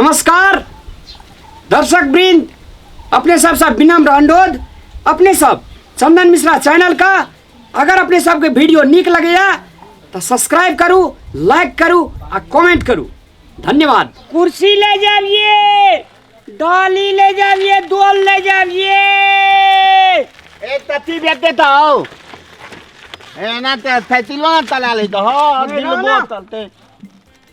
नमस्कार दर्शक वृंद अपने सब सब विनम्र अनुरोध अपने सब चंदन मिश्रा चैनल का अगर अपने सब के वीडियो निक लगेया तो सब्सक्राइब करू लाइक करू आ कमेंट करू धन्यवाद कुर्सी ले जाइए डाली ले जाइए दोल ले जाइए ए तती बेटे तो आओ ए ना ते थैतिलो ना तला ले तो हो दिल बोतल ते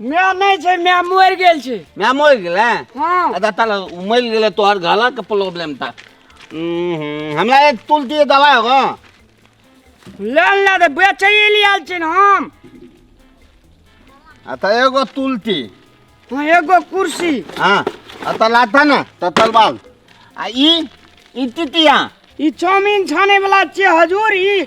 माय नहि छै माय मरि गेल छै माय मरि गेलै हाँ अच्छा तल मरि गेलै तोहर गला के प्रॉब्लम था हमरा एक तुलसी दवाई होगा लाल ना दे बेचे ले आल छै ने हम अच्छा एगो तुलसी हाँ एगो कुर्सी हाँ अच्छा लाता ना तल बाल आ ई ई तितिया ई चाउमीन छाने वाला छै हजूर ई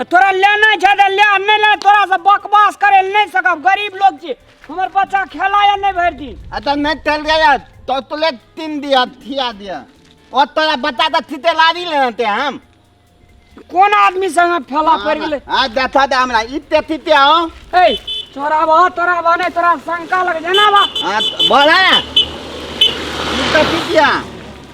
आ तोरा लेना छै तऽ ले नहि ले तोरा से बकवास करे ले नहि सकब गरीब लोग छी हमर बच्चा खेला या नहि भरि दिन आ तऽ नहि चल गया तो तुले तीन दिया थिया दिया और तोरा बता दे थिते लारी लेना ते हम कोन आदमी संगे फैला पड़ गेलै आ देखा दे हमरा इते थिते हो ए तोरा बा तोरा बा नहि तोरा शंका लग जेना बा आ बोला ना इते थितिया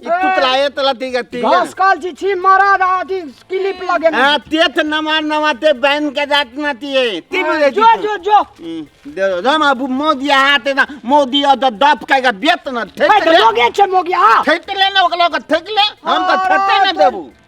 ई तुतलाए तला ती गति घास काल छी छी मारा दादी क्लिप लगे ना हां ते त नमार नमाते बैन के जात ना ती है ती बुझे जो जो जो दे दो हम अब मोदी हाथ ना मोदी अद दप के के बेत ना ठेक ले लोगे छे मोगी हां ठेक ले ना ओकला के ठेक ले हम त ठेक ना देबू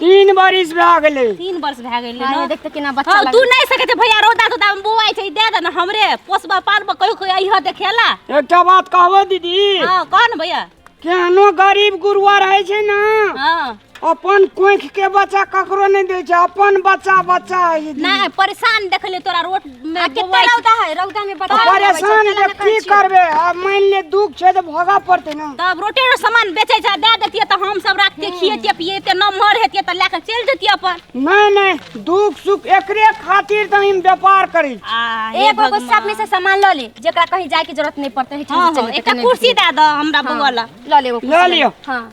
तीन बरिस भए गेलै तीन वर्ष भए गेलै हाँ, ने ये देख तो केना बच्चा हाँ, लग तू नहीं सके थे भैया रोदा तोदा में बुआई छै दे दे ना हमरे पोसबा पालबा कहियो कोई अइह देखेला एकटा बात कहबो दीदी हां कह ना भैया केहनो गरीब गुरुआ रहै छै ने हां अपन कोंख के बच्चा ककरो नहि दै छै अपन बच्चा बच्चा है दीदी। नहीं परेशान देखले तोरा रोट आ केते रौदा है रौदा में बता परेशान के की करबे अब मान ले दुख छै त भोगा पड़ते न तब रोटे रो सामान बेचे छै दे देतिए त हम सब राख के खिएतिए पिएते न मर हेतिए त लेके चल जतिए अपन नहीं नहीं दुख सुख एकरे खातिर त हम व्यापार करी आ हे एगो एगो सब में भगवान। से सामान ल ले जेकरा कहीं जाए के जरूरत नहीं पड़ते है हाँ, हाँ, एकटा कुर्सी दे दो हमरा बगल ल ले एगो कुर्सी ल लियो। हाँ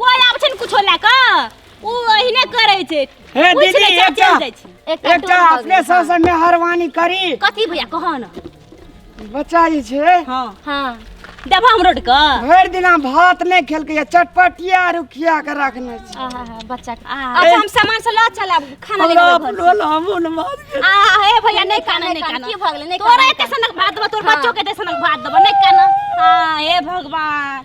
कोई आबै छै ने कुछो लए कऽ ओ ओहिने करै छै हे पूछि दीदी लै छै, एकटा चलि जाइ छै। एकटा टोल भऽ अपने गेल। सबसँ मेहरबानी करी कथी भैया कह ने बच्चा जे छै हँ हाँ देबो हम रोड के भरि दिना भात नहि खेलकै या चटपटिया रुखिया के रखने छै आहा हा बच्चा के अच्छा हम सामान से लऽ चलब खाना ले लोला लेबै घर से। लोला मुन मार आ हे भैया नहि काना नहि काना की भऽ गेलै, नहि तोरा काना, एते सनक भात देबो तोर बच्चो के एते सनक भात देबो नहि काना आ हे भगवान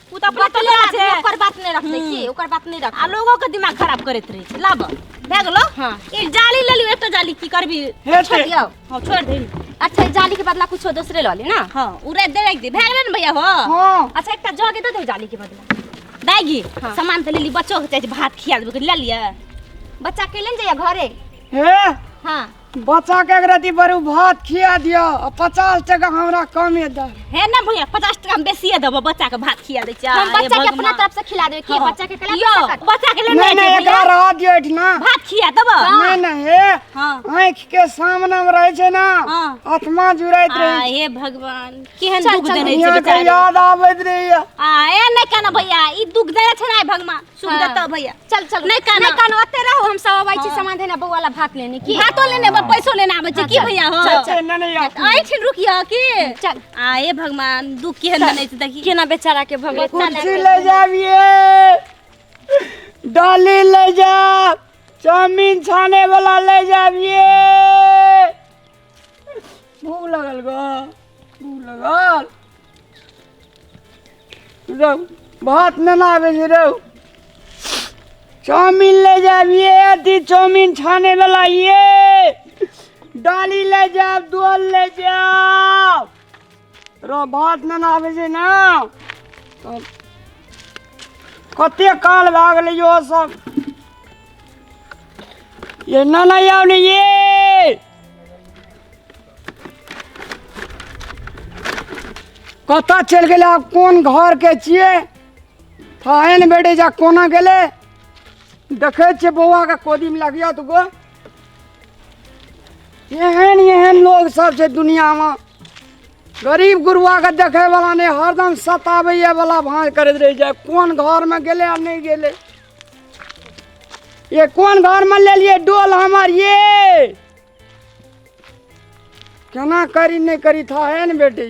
उ त अपने बतले टोला छै ओकर बात नहीं रखते हम्म। की ओकर बात नहीं रख आ लोगो के दिमाग खराब करैत रहै छै लाब भए गेलो हाँ। एक जाली ले लियो एकटा जाली की करबी हे छोड़ ते- दियो हां छोड़ दे अच्छा ई जाली के बदला कुछो दोसरे लऽ ली ना हां उरे दे रख दे भए गेलै ने भैया हो हां अच्छा एकटा जग दे दे जाली के बदला दागी हाँ। सामान त ले ली बच्चो के चाहे भात खिया देबे ले लिया बच्चा के लेन जाइए घरे हे हां बच्चा के एक रति बरू भात खिया दियो आ पचास टका हमरा कमे दे हे ना भैया पचास टका हम बेसिए देबो बच्चा के भात खिया दै छियै हम हे बच्चा के अपना भगवान। तरफ से खिला देबे कि हाँ। बच्चा के कला यो कर बच्चा के ले नहीं नहीं एकरा रह दियो एठना भात खिया देबो नहीं नहीं हे हाँ आँख के सामने में रहे छै ना हाँ। आत्मा जुड़ैत आ, रहे हे भगवान केहन चल, दुख चल, देने छै यहाँ के बेचारी याद आबैत रहैया आ ए नै कहना भैया ई दुख देने छै ना भगवान सुख हाँ। देता भैया चल चल नहीं काना। नहीं काना ओते रहो हम सब आबै छी हाँ। सामान देना बौआ ला भात लेने की भातो लेने बा पैसो लेने आबै छै हाँ, की चल, भैया हो चल, चल। एना नहीं आती। आइ छी रुकिया की चल आए भगवान दुख के हन नहीं देखी केना बेचारा के भगवान कुर्सी ले जाबिए डाली ले जा चाउमीन छाने वाला ले जाबिए भूख लगल गो भूख लगल रौ भात नेना आबै छै रौ चाउमिन ले जायब ये अथी चाउमिन छाने वाला ये डाली ले जायब दोल ले जायब रो भात नहि ने आबै छै ने तऽ कते काल भए गेलै यो सब ये ना ना याव ने ये कतऽ चलि गेलै आब कोन घरके छियै थाहे ने भेटै जा कोना गेलै देखै छियै बौआके कोदीमे लगिया दुगो एहन एहन लोग सब छै दुनिया में गरीब गुरुआ के देखे वाला ने हरदम सताबैया वाला भांज करैत रह जाए कोन घर में गेले आ नहीं गेले ये कोन घर में ले लिए डोल हमार ये केना करी नहीं करी था है ने बेटी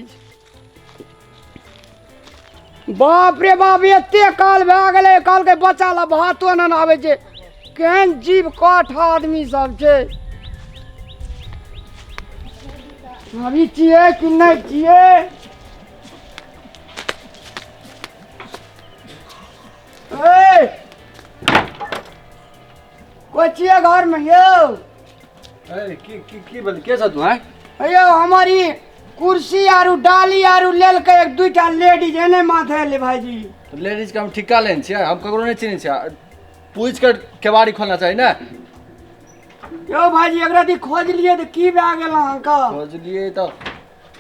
बाप रे बाप एते काल भए गेलै काल के बच्चा ला भातो न आबै छै केहन जीव काठ आदमी सब छै अभी छियै कि नहि छियै ए, कोइ छियै घरमे यौ ए, की की की बोल के छ तू हैं अयो हमर ई कुर्सी आरु डाली आरु लेलकै एक दुइटा लेडीज एने माथे एलै भाइजी तो लेडीज के हम ठिका लेन छियै हम ककरो नहीं चिन्है छियै पूछ के केवाड़ी खोलना चाही ने यौ भाइजी एकरा दी खोजलियै तऽ की भए गेल अहाँके खोजलियै तऽ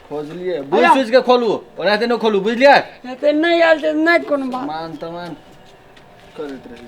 खोजलियै बुझ अया। सुझ के खोलू ओनाहिते नहि खोलू बुझलियै एते नहि आयल तऽ नहि कोनो बात मान तमान करैत रही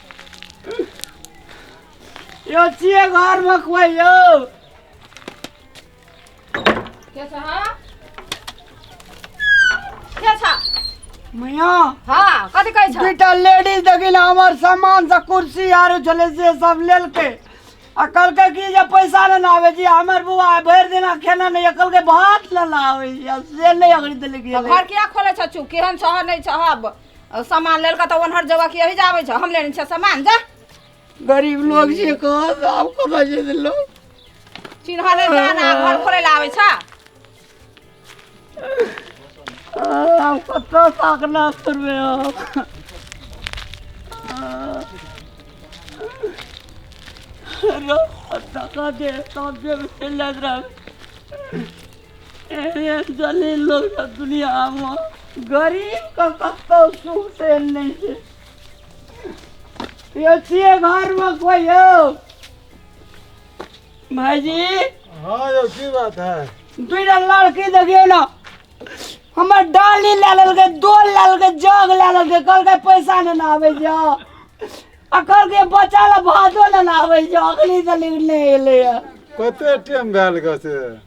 यो छिए घर में कोई यो के छ हँ के छ मैया हँ कथी कहै छ बेटा लेडीज देखिन हमर सामान से कुर्सी आरो छले से सब लेल के आ कल के की जे पैसा न आवे जी हमर बुआ भर दिना खेना नहीं अकल के भात न लावे जी से नहीं अगड़ी देले के घर किया खोले छ चू केहन छह नहि छह और सामान लेल का तो ओनहर जगह की यही जावे छ हम लेने छ सामान जा गरीब लोग छे को आब कत जे दिलो चिन्ह ले जाना घर खोले ला आवे छ आब कत ताकना करबे हम रो तका दे तब जे चल जात रह भाईजी हाँ यौ की बात है दूटा लड़की देखियो ना हमर डाली ले लेलकै डोल ले लेलकै जग ले लेलकै कहलकै पैसा नहि ने आबै जा आ कहलकै बच्चा ले भातो नहि ने आबै जा अखनी तक नहि एलैए कते टाइम भेल गऽ से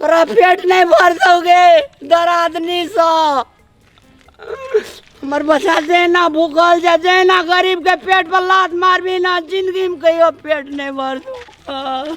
तोरा पेट नहीं भर सकोगे दर आदमी सा हमर बच्चा जहिना भूखल छै जहिना गरीबके पेट पर लात मारबी ना जिन्दगीमे कहियो पेट नहि भरतौ